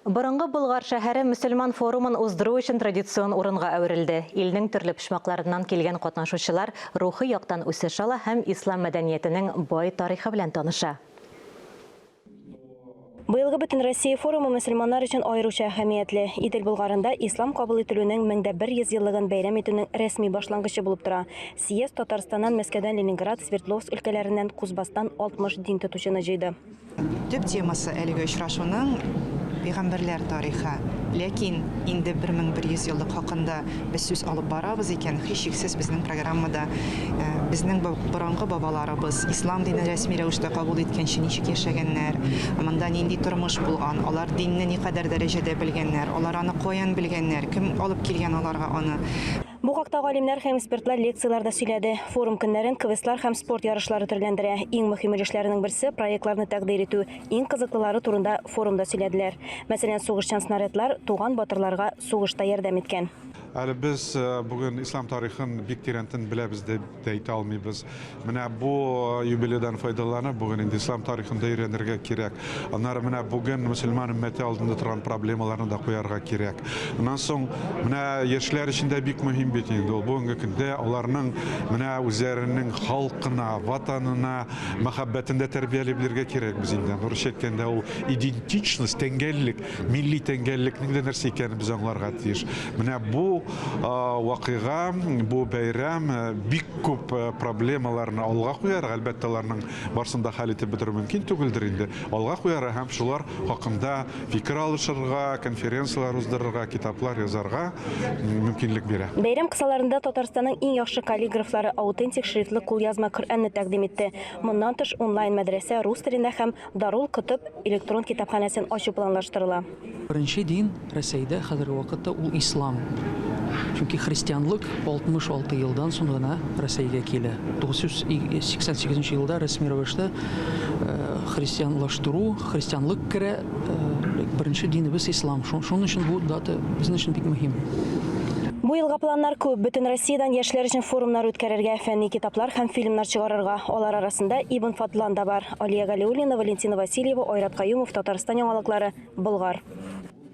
Борынгы Болгар шәһәре мөселман форумын уздыру өчен традицион урынга әверелде. Илнең төрле почмакларыннан килгән катнашучылар рухи яктан үсеш ала һәм ислам мәдәниятенең бай тарихы белән таныша. Быелгы Бөтенроссия форумы мөселманнар өчен аеруча әһәмиятле. Идел Болгарында ислам кабул ителүнең 1100 еллыгын бәйрәм итүнең рәсми башлангычы булып тора. Съезд Татарстаннан, Мәскәүдән, Ленинград, Свердловск өлкәләреннән, Кузбасстан 60 дин тотучыны җыйды. Төп темасы әлеге очрашуның пигамбәрләр тарихы. Ләкин инде 1100 еллык хакында без сүз алып барабыз икән, һичшиксез безнең программада безнең борынгы бабаларыбыз ислам динен рәсми рәвештә кабул иткәнче ничек яшәгәннәр, монда нинди тормыш булган, алар динне никадәр дәрәҗәдә белгәннәр, алар аны каян белгәннәр, кем алып килгән аларга аны, Бу хакта галимнәр һәм экспертлар лекцияләрдә сөйләде. Форум көннәрен квестлар һәм спорт ярышлары төрләндерә. Иң мөһим өлешләренең берсе проектларны тәкъдир итү. Иң кызыклылары турында форумда сөйләделәр. Мәсәлән, сугышчан снарядлар туган батырларга сугышта ярдәм иткән. Әле без э, бүген ислам тарихын бик тирәнтен беләбез дип дип әйтә алмыйбыз. Менә бу юбилейдан файдаланып, бүген инде ислам тарихын да өйрәнергә кирәк. Аннары менә бүген мөселман өммәте алдында торган проблемаларны да куярга кирәк. Аннан соң менә яшьләр өчен дә бик мөһим бит инде ул. Бүгенге көндә аларның менә үзләренең халкына, ватанына мәхәббәтен дә тәрбияли белергә кирәк без инде. Аны русча әйткәндә ул идентичность, тәңгәллек. милли тәңгәллекнең дә нәрсә икәнен без аңларга тиеш. Менә бу вакыйга, бу бәйрәм бик күп проблемаларны алга куяр, әлбәттә, аларның барсын да хәл итеп бетерү мөмкин түгелдер инде. Алга куяр һәм шулар хакында фикер алышырга, конференцияләр уздырырга, китаплар язарга мөмкинлек бирә. Бәйрәм кысаларында Татарстанның иң яхшы каллиграфлары аутентик шрифтлы кулъязма Коръәнне тәкъдим итте. Моннан тыш, онлайн-мәдрәсә рус телендә һәм Дарул Котып электрон китапханәсен ачу планлаштырыла. Беренче дин Рәсәйдә хәзерге вакытта ул ислам. Чөнки христианлык 66 елдан соң гына Рәсәйгә килә. 988 нче елда рәсми рәвештә христианлаштыру, христианлык керә. Беренче динебез ислам. Шуның өчен бу дата безнең өчен бик мөһим. Бу елга планнар күп. Бөтен Россиядән яшьләр өчен форумнар үткәрергә, фәнни китаплар һәм фильмнар чыгарырга. Алар арасында Ибн Фадлан да бар. Алия Галиуллина, Валентина Васильева, Айрат Каюмов, Татарстан яңалыклары, Болгар.